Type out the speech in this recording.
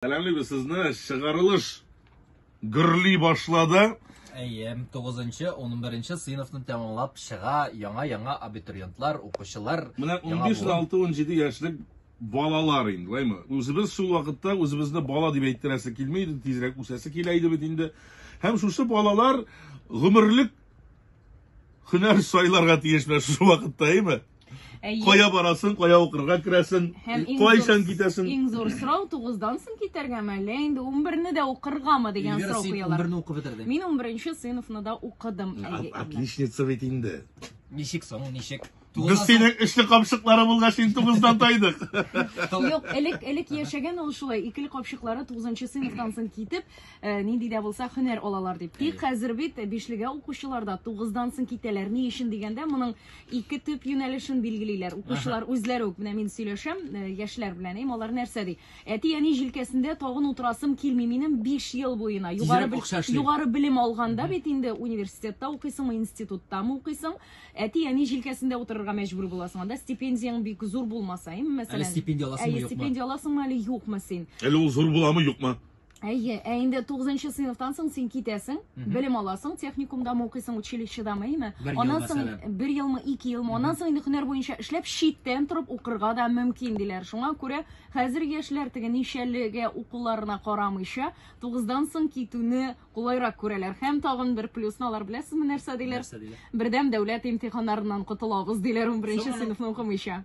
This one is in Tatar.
Сәламлибез сезне, чыгарылыш гөрли башлады. Әйе, 9-нчы, 11-нче сыйныфны тәмамлап чыга яңа-яңа абитуриентлар, укучылар. Менә 15-16-17 яшьлек балалар инде, лаймы? Үзебез шул вакытта үзебезне бала дип әйттерәсе килми иде, тизрәк үсәсе килә иде бит инде. Һәм шушы балалар гомерлек һөнәр сайларга тиеш менә шушы вакытта, әйме? Әйе. Кая барасың, кая укырга керәсең, Һәм иң кайчан зур- китәсең? Иң зур сорау 9-дан соң китәргәме, әллә инде 11-не дә укыргамы дигән Эльвира, сорау син куялар. 11-не укып бетердең. Мин 11-нче сыйныфны да укыдым. Ат- Әйе, Инна. Отличница бит инде. Ничек соң, ничек? Без синең эшле камчыклары булгач, син тугыздан тайдык. Юк, элек элек яшәгән ул шулай. Икеле капчыклары 9-нчы сыйныфтан соң китеп, э, нинди дә булса һөнәр алалар дип. Тик хәзер бит бишлегә укучылар да 9-дан соң китәләр. Ни өчен дигәндә, моның Ике төп юнәлешен билгелиләр. Укучылар үзләре үк, менә мин сөйләшәм, э, яшьләр белән, им, алар нәрсә ди? Әти-әни җилкәсендә тагын утырасым килми минем 5 ел буена. Югары, Тизрәк акча эшли. югары белем алганда бит инде университетта укыйсыңмы, институттамы укыйсың, әти-әни җилкәсендә утырырга мәҗбүр буласың. Анда стипендияң бик зур булмаса, им, мәсәлән. Әле стипендия аласыңмы, юкмы? Әле стипендия аласыңмы, әле юкмы син? Әле ул зур буламы, юкмы? Әйе, ә инде 9 нчы сыйныфтан соң син китәсең, белем аласың, техникумда мы укыйсың, училищеда мы әйме? Аннан соң бер елмы, ике елмы, аннан соң инде һөнәр буенча эшләп, читтән торып укырга да мөмкин диләр. Шуңа күрә хәзер яшьләр теге ничәлегә укуларына карамыйча, 9-дан соң китүне кулайрак күрәләр. Һәм тагын бер плюсны алар беләсезме нәрсә диләр? Бердәм дәүләт имтиханнарыннан котылабыз диләр 11 нче сыйныфны укымыйча.